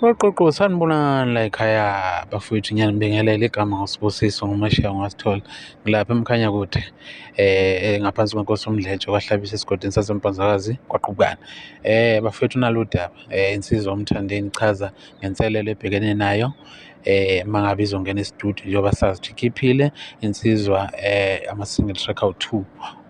Uqoqo sanibonani la ekhaya bafowethu ngiyanibingelela igama ngosibusiso ngomashiya ngasithola ngilapha emkhanya kude eh ngaphansi kwenkosi umdletshe kwahlabisa esigodini sasempanzakazi kwaqhubukana eh bafowethu nalo daba eh insizwa umthandeni chaza ngenselelo ebhekene nayo eh mangabe izongena e-studio njengoba sazi ukuthi ikhiphile insizwa eh ama-single track awu-two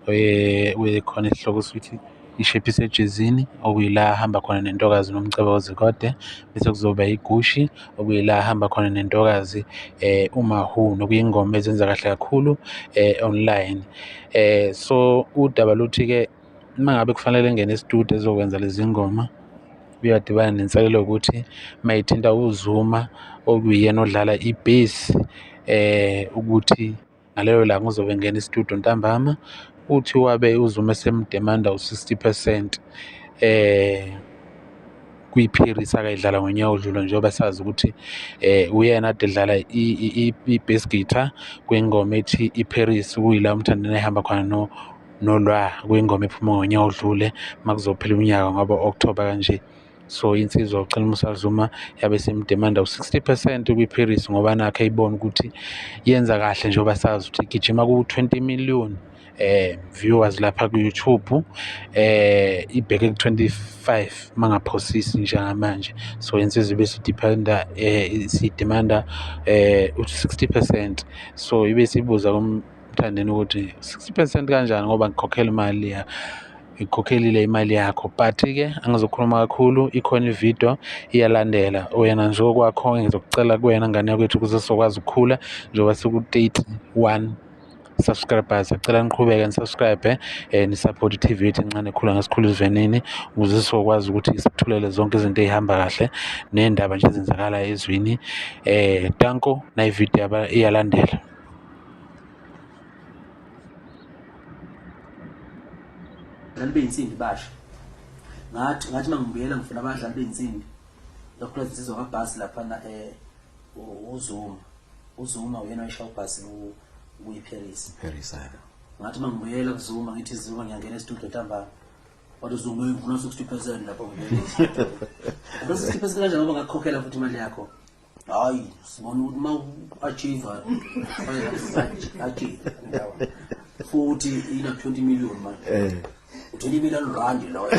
eh kuyikhona isihloko sithi ishepi isejezini okuyila ahamba khona nentokazi nomcebo ozikode bese kuzoba igushi okuyila ahamba khona nentokazi eh umahu nokuyingoma ezenza kahle kakhulu eh online eh so udaba luthi ke uma ngabe kufanele ngene estudio ezokwenza lezi ngoma uyadibana nenselelo yokuthi mayithinta uzuma okuyena odlala ibhesi eh ukuthi Ngaleyo langa uzobe engena istudio ntambama uthi wabe uZuma esemdemanda u-60 percent eh kwiParis akayidlala ngonyaka odlule njengoba sazi ukuthi eh uyena ade edlala i-bass guitar kwingoma ethi iParis kuyila umthandeni ehamba khona no nolwa kwingoma ephuma ngonyaka odlule makuzophela unyaka ngoba October kanje so insizwa ucela umusazuma yabe semdemanda u-60 percent kwi-paris ngoba nakhe ibona ukuthi yenza kahle njengoba sazi ukuthi igijima ku-20 million eh viewers lapha ku YouTube eh ibheke ku 25 mangaphosisi njengamanje so insizwa bese dependa eh si demanda eh 60% so ibe sibuza kumthandeni ukuthi 60% kanjani ngoba ngikhokhela imali ya ikhokhelile imali yakho but-ke angizokhuluma kakhulu ikhona ividiyo iyalandela wena nje okwakho ngizokucela kuwena ngane yakwethu ukuze sizokwazi ukukhula njengoba siku-thirty one subscribers acela niqhubeke nisubscribe eh, nisupport i-tv yethu encane khula ngesikhulu isivenini ukuze sizokwazi ukuthi sithulele zonke izinto ey'hamba kahle ney'ndaba nje ezenzakalayo ezwini um danko nayividiyo iyalandela Nami beyinsimbi basho. Ngathi ngathi mangibuyela ngifuna abadlali beyinsimbi. Lokho lezizwa kabhasi lapha na eh uZuma. uZuma uyena oyishaya ubhasi kuyiParis Paris ayaba ngathi mangibuyela kuZuma ngithi Zuma ngiyangena estudio ntambama kodwa uZuma uyivuna 60% lapho ngibuyela 60% kanjani ngoba ngakukhokhela futhi imali yakho hayi sibona ukuthi uma u-achieve achieve futhi ina 20 million manje eh. u-20 million rand loyo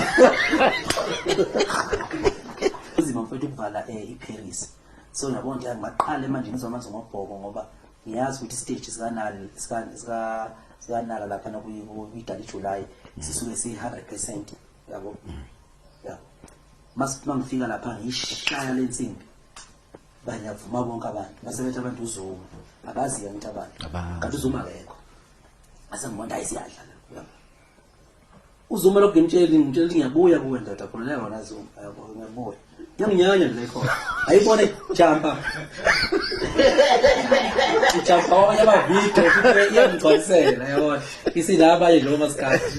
uzima mfethu ukuvala um iparis so nabona nje ngaqale manje ngizwa manje ngobhoko ngoba ngiyazi ukuthi isiteji sikanali sikanala lapha nakuyidala ijuly sisuke siyi-hundred percent yabo masithi mangifika lapha ngishaya lensimbi banyavuma bonke abantu basebethi abantu uzuma abazi yena ukuthi abantu kanti uzuma akekho asengibona hayi siyadla uzuma lokho ngimtsheli ngimtsheli ngiyabuya kuwe ndoda khululeka wona zuma ngiyabuya ngiyanginyanya nje khona ayibone jumpa ijumpa wabanye abavidiyo iyangigcwalisela yabona isilaba nje njengoba sikhathi